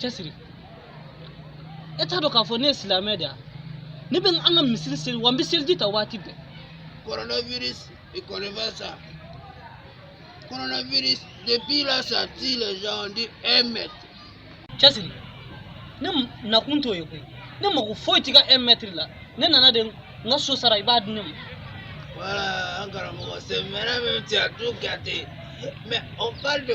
cɛsiri e t'a dɔn k'a fɔ ne ye silamɛ de ye ne bɛ an ka misiri seli wa n bɛ seliji ta waati bɛɛ coronavirus il connaît pas ça coronavirus depuis là ça tue les gens on dit un mètre cɛsiri ne nakun t'o ye koyi ne mago foyi t'i ka un mètre la ne nana de n ka so sara i b'a di ne ma voilà an karamɔgɔ c'est vrai même tu as tout gâté mais on parle de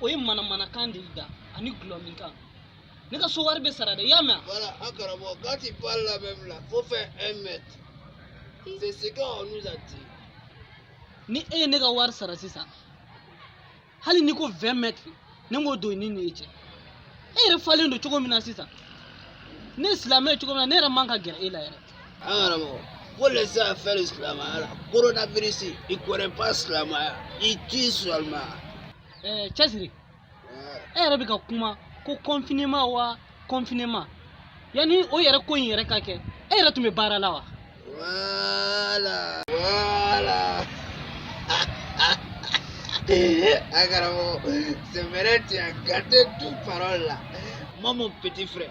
o ye manamanakan de y'i da ani dɔlɔminkan ne ka so wari bɛ sara dɛ i y'a mɛn a. voilà an karamɔgɔ quand tu parles là même là faut faire un mètre c'est ce qu'on nous a dit. ni e ye ne ka wari sara sisan hali n'i ko vingt mètres ne b'o don i ni n yɛrɛ cɛ e yɛrɛ falen don cogo min na sisan ne ye silamɛ ye cogo min na ne yɛrɛ man ka gɛrɛ e la yɛrɛ. faut laisser affaire silamɛya là coronavirus il connaît pas silamɛya il tue seulement. ɛɛ cɛsiri e yɛrɛ bɛ ka kuma ko confinement wa confinement yanni o yɛrɛ ko in yɛrɛ ka kɛ e yɛrɛ tun bɛ baara la wa. voilà voilà an karamɔgɔ c'est vrai tu as gâté toute parole là moi mon petit frère.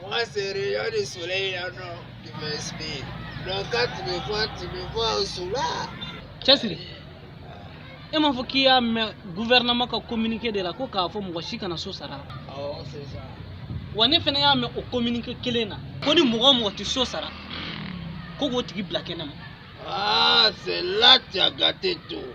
Moi, c'est rayon du soleil, là, non, qui m'inspire. Donc, quand tu me vois, tu me vois au soleil. Cɛsiri, e m'a fɔ k'i y'a mɛn gouvernement ka communiqué de la ko k'a fɔ mɔgɔ si kana so sara la. Awɔ, c'est ça. Wa ne fana y'a mɛn o communiqué kelen na ko ni mɔgɔ o mɔgɔ tɛ so sara ko k'o tigi bila kɛnɛ ma. Ah, c'est là tu as gâté tout.